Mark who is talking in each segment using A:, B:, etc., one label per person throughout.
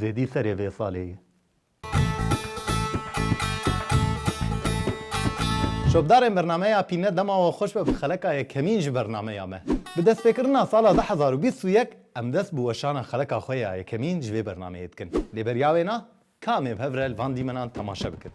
A: Zêdî serê vê salê ye. Şopdarên bernameya Pîne dema we xweş be bi xeleka yekemîn ji bernameya me. Bi destpêkirina sala du hezar û bîst û yek Em dest bi weşana xereka xwe ya yekemîn ji vê bernameyê dikin. Lê beriya wê na, ka em ê bi hev re li van dîmenan temaşe bikin.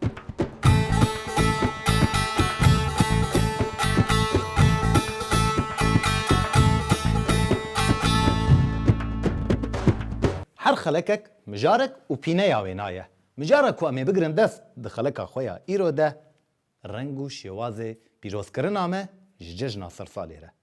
A: Her xelekek mijarek û pîneya wê na ye. Mijara ku em ê bigirin dest di xeleka xwe ya îro de, reng û şêwazê pîrozkirina me ji cejna sersalê re.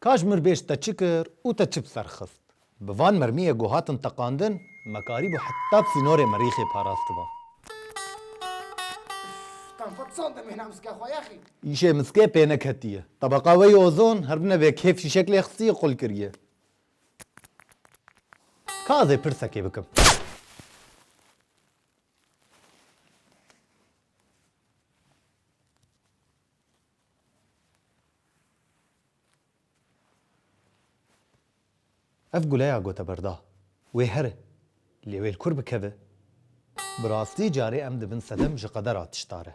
A: Kaş mir bêj te çi kir û te çi bi ser xist. Bi van mermiyê ku hatin teqandin me karîbû heta bi sînorê merîxê parastiba. Îşê miskê pê neketiye. Tebeqa wê ya ozon her bine vê kêf fîşek lê xistiye qul kiriye. Ka ez ê pirsekê bikim? Ev guleya gote berda wê here lê wê li kur bikeve? Bi rastî carê em dibin sedem ji qedera tişta re.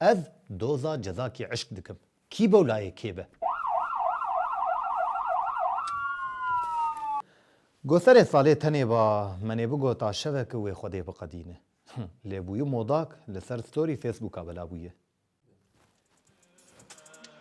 A: Ez doza cezakî eşq dikim. Kî bowlayê kê be. Goserê salê tenê ba menê bigota şeveki wê xwedê biqedîne. Lê bûyî modak li ser story Facebooka bela bûye.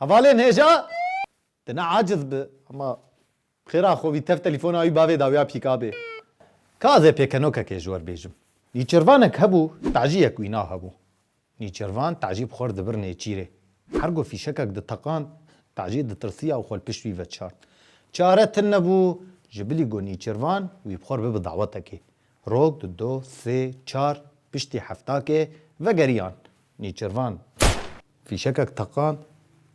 A: Hevalê nêja di ne aciz bi hema xêra xwe wî tev telîfona wî bavê dawiya pîkabê. Ka zê pêkenokekê ji wer bêjim. Nîçirvanek hebû taciyek wîna hebû. Nîçirvan tacî bi xwe re dibir nêçîrê. Her ku fîşekek diteqand tacî ditirsiya û xwe li pişt wî veçart. Çare tune bû ji bilî ku nîçirvan wî bi xwe re bibe dawetekê. Rok di do, sê, çar piştî heftakê vegeriyan. Nîçirvan fîşekek teqand.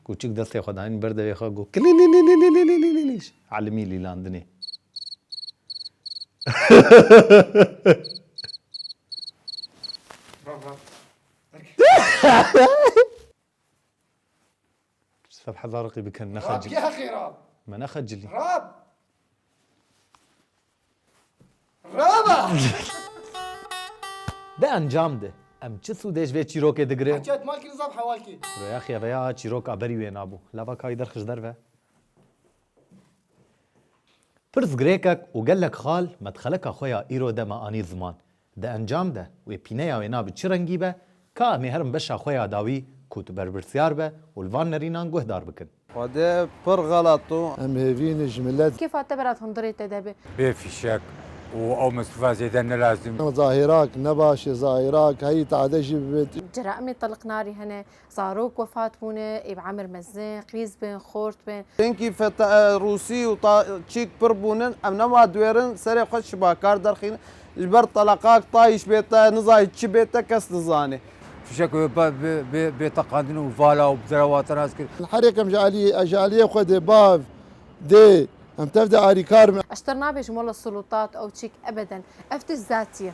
A: Kûçik destê xwe dayîn ber devê xwe got, Kilîlîlî Sefhe dariqî bikin Rab nexecilî. yê heqê ra. Me nexecilî. Rab. Rab a! Di encam de em çi sûdê ji vê çîrokê digirin? Hetiya dima kirin zaf hewal kê. Kurê yexye veya çîrok a berî wê nabû. Lava kayî derxij derve. Pirsgirêkek û gelek xal medxeleka xwe ya îro de me anî ziman. Di encam de wê pîneya wê nabe çi rengî be, ka em ê herin beşa xwe ya dawî ku tu berpirsyar be û li van nerînan guhdar bikin. Xwedê pir xelat o. Em hêvînê ji milet. Kêfa te berat hundirê te de be. Bê fîşek û ew misrifa zêde ne lazim. Zahêrak ne baş e, zahêrak heyî tade jî bibêt. Cera em ê tiliq narî hene. Zarok wefat bûne, ê bi emir mezin, qîz bin, xort bin. Çinkî fetae Rûsî û ta çîk pir bûnin, em nema diwêrin serê xwe çi bakar derxînin. Ji ber teleqak tayîş bête, nizayî çi bête kes dizane. Fişek û bêteqandin û vala û derewa tenas kir. Herêk em ji alî ji alîyê xwe dê bav dê, em tev de alîkar bin. Eşter nabê ji mola sulûtat ew çîk ebeden. Ev tişt zatî ye.